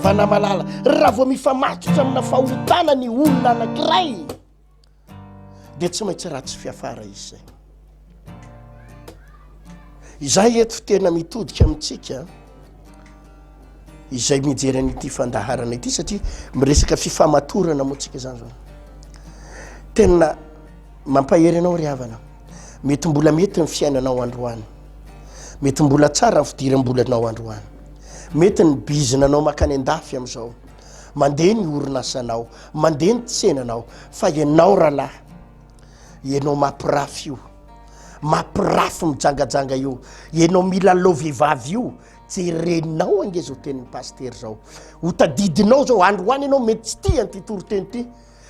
havana malala raha vao mifamatotra amina fahotana ny olona anankiray dia tsy maintsy ratsy fiafara izy izay. Izay eto tena mitodika amintsika izay mijery an'ity fandaharana ity satria miresaka fifamatorana moantsika zany zao tena mampahery anao ry havana mety mbola mety ny fiainanao androany mety mbola tsara ny fidiram-bolanao androany mety ny bizina anao makany an-dafy amin'izao Mandeha ny orinasanao, mandeha ny tsenanao, fa ianao rahalahy, ianao mampirafy io, mampirafy mijangajanga io, ianao milalao vehivavy io, jerenao ange izao tenin'ny pasitera izao, hotadidinao izao, androany ianao mety tsy tia an'ity toriteny ity,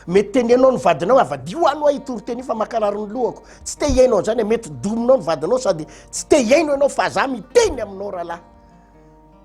mety tenenao ny vadinao hoe avadiho any ho'a io toriteny io fa mankarary ny lohako, tsy te hihaino an'izany e, mety dominao ny vadinao sady tsy te hihaino ianao fa za miteny aminao rahalahy.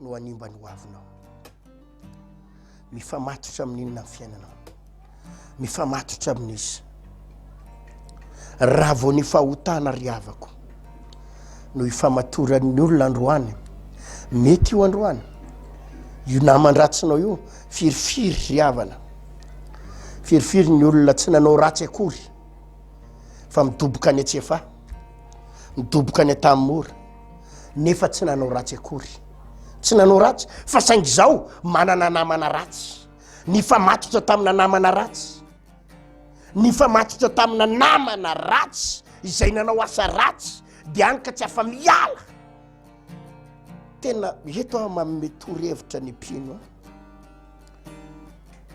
no hanimba ny hoavinao. Mifamatotra amin'inona ny fiainanao? Mifamatotra amin'izy. Raha vao ny fahotana ry havako no ifamatoran'ny olona androany, mety io androany, io naman-dratsinao io, firifiry ry havana, firifiry ny olona tsy nanao ratsy akory fa midoboka any an-tsefa, midoboka any an-tanimora, nefa tsy nanao ratsy akory. Tsy nanao ratsy, fa saingy izao manana namana ratsy. Nifamatotra tamina namana ratsy. Nifamatotra tamina namana ratsy izay nanao asa ratsy, dia any ka tsy afa-miala. Tena eto aho manome torohevitra ny mpino.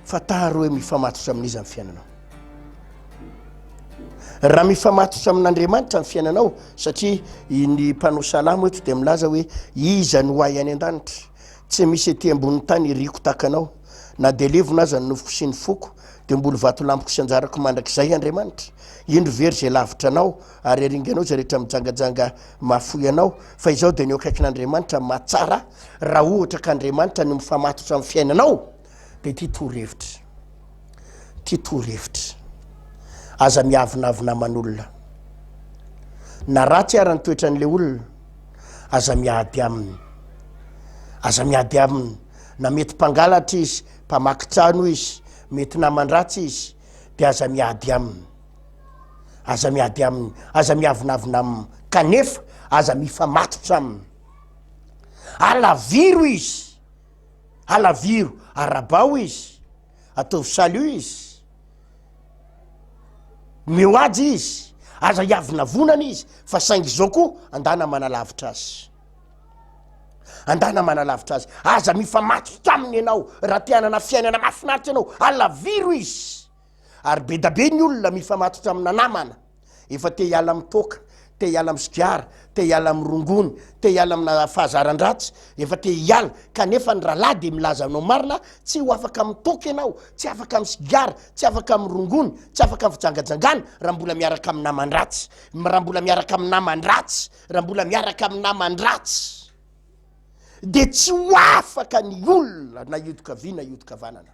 Fantaro hoe mifamatotra amin'iza ny fiainanao. Raha mifamatotra amin'Andriamanitra ny fiainanao, satria ny mpanao salamo eto dia milaza hoe iza no ahy any an-danitra, tsy misy ety ambonin'ny tany iriko tahaka anao, na dia levona aza ny nofoko sy ny foko, dia mboly vatolampiko sy anjarako mandrakizay Andriamanitra. Indro very izay lavitra anao, ary aringanao izay rehetra mijangajanga mahafoy anao, fa izaho dia ny eo akaikin'Andriamanitra mahatsara. raha ohatra ka Andriamanitra no mifamatotra amin'ny fiainanao dia ity torohevitra ity torohevitra aza miavonavona aman'olona na ratsy ara ny toetran'ilay olona aza miady aminy aza miady aminy na mety mpangalatra izy mpamaky trano izy mety namandratsy izy dia aza miady aminy aza miady aminy aza miavonavona aminy kanefa aza mifamatotra aminy Alaviro izy, alaviro, arabaho izy, ataovy salut izy, omeo aja izy, aza hiavonavonana izy, fa saingy izao koa andana manalavitra azy, andana manalavitra azy, aza mifamatotra aminy ianao raha te hanana fiainana mahafinaritra ianao, alaviro izy, Ary bedabe ny olona mifamatotra amina namana efa te hiala amin'ny toaka, te hiala amin'ny sigara, te hiala amin'ny rongony, te hiala amina fahazaran-dratsy, efa te hiala, kanefa ny rahalahy dia milaza anao marina, tsy ho afaka amin'ny toaka ianao, tsy afaka amin'ny sigara, tsy afaka amin'ny rongony, tsy afaka amin'ny fijangajangana raha mbola miaraka amin'ny naman-dratsy, raha mbola miaraka amin'ny naman-dratsy, raha mbola miaraka amin'ny naman-dratsy dia tsy ho afaka ny olona na hiodin-kavia na hiodin-kavanana.